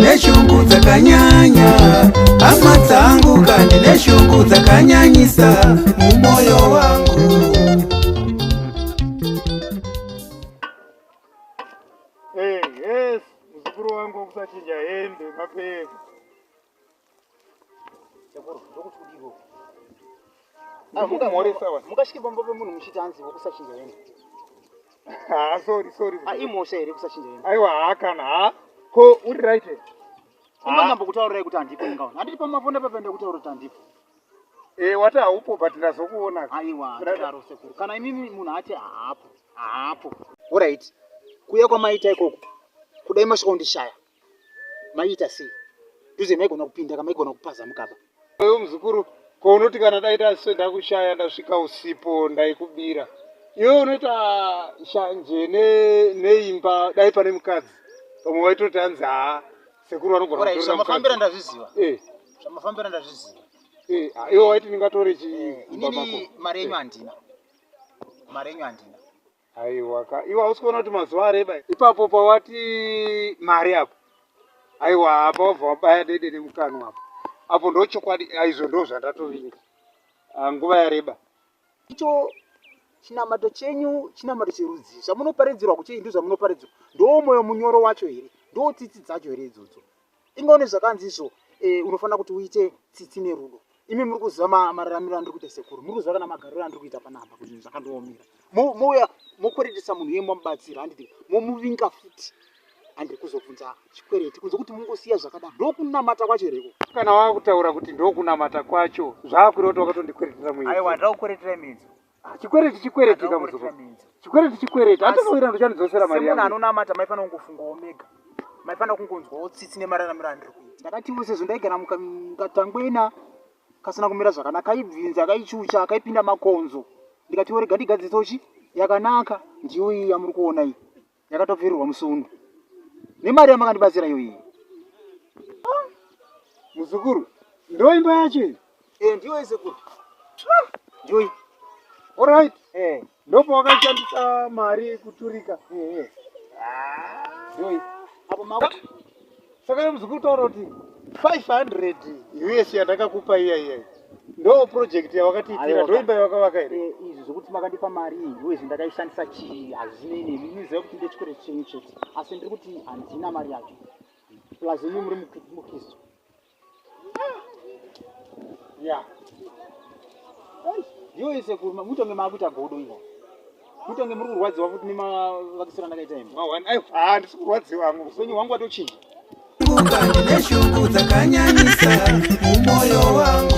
neshungu dzakanyanya hama dzangu kandi neshungu dzakanyanyisa mumoyo wangu Hey, yes, muzukuru wangu kusachinja hembe mapfeka. Ah, mukasvike pamba pemunhu muchiti hanzi wokusachinja yena ah, sorry sorry ah, imhosha here kusachinja yena aiwa haa kana haa ko uri right unonyamba kutaurirai kuti handipo ingaona handiti pamafona papaenda kutaura kuti handipo eh, wati haupo but ndazokuona aiwa ndadaro sekuru kana imimi munhu ati haapo haapo orit kuya kwamaita ikoko kudai masvikondishaya maiita sei duze maigona kupinda ka maigona kupaza mukaba uyu muzukuru ko unoti kana daita se ndakushaya ndasvika usipo ndaikubira iwe unoita shanje neimba ne dai pane mukadzi pamwe waitoti anzi haa sekuru vanogonamafambira ndazviziva eh. zvamafambira ndazviziva eh, ah, iwe waiti ndingatore chiinini mari yenyu handina mari yenyu handina Aiwa ka. Iwe hausi kuona kuti mazuva areba ipapo pawati mari apo. Aiwa apa wabva wabaya dede nemukanwa apo. Apo ndochokwadi aizvo ndo zvandatovinga. Ah, nguva yareba. Icho chinamato chenyu chinamato cherudzii zvamunoparidzirwa kuchei ndizvamunoparidzirwa ndoo moyo munyoro wacho here ndoo tsitsi dzacho here idzodzo ingaone zvakanzi izvo eh, unofanira kuti uite tsitsi nerudo imi muri kuziva mararamiro andiri kuita sekuru muri kuziva kana magariro andiri kuita panapa kuti zvinhu zvakandiomera mouya mokweretesa munhu iye mamubatsira handiti momuvinga futi handiri kuzobvunza chikwereti kunze kuti mungosiya zvakadaro ndokunamata kwacho here ko kana wava kutaura kuti ndokunamata kwacho zvaakureota wakatondikweretera muaiwa ndakukweretera imidzo Ah, chikwereti chikwereti kamuzuva. Chikwereti chikwereti. Hata kawira ndo chanidzosera mari yangu. Ano namata mai fana kungofunga omega. Mai fana kungonzwa otsitsi ne marara mirandri kuita. Ndakati wo sezvo ndaigara muka ngatangwena kasina kumira zvakanaka ibvinza akaichucha akaipinda makonzo. Ndikati wo rega ndigadziso chi yakanaka ndiyo iyi yamuri kuona iyi. Ndakatobvirirwa musundu nemari yamakandibatsira iyo iyi. Ah, muzukuru, ndo imba yacho iyi? Eh, ndiyo sekuru. Ah, ndiyo iyi. All right. Eh. Ndopo wakashandisa mari kuturika. Eh, eh. Ah. Ndiyo iyi. Apo makuti. saka nemuzi kutaura kuti 500 us yandakakupa iya iya ndo project yawakatiitira ndoimba yawakavaka here eh, izvi zvokuti makandipa mari us ndakaishandisa chii hazvinei nemi muziva kuti ndechikore chenyu chete asi ndiri kuti handina mari yacho plus imi muri mukristu Yeah. Yo ese kuruma mutonge makuita godo ino. Mutonge muri kurwadziwa futi nema vakisira ndakaita imi. Ma one ayo ah ndisi kurwadziwa hangu. Upenyu hwangu watochinja. Kumbuka ndine shungu dzakanyanyisa mumoyo wangu.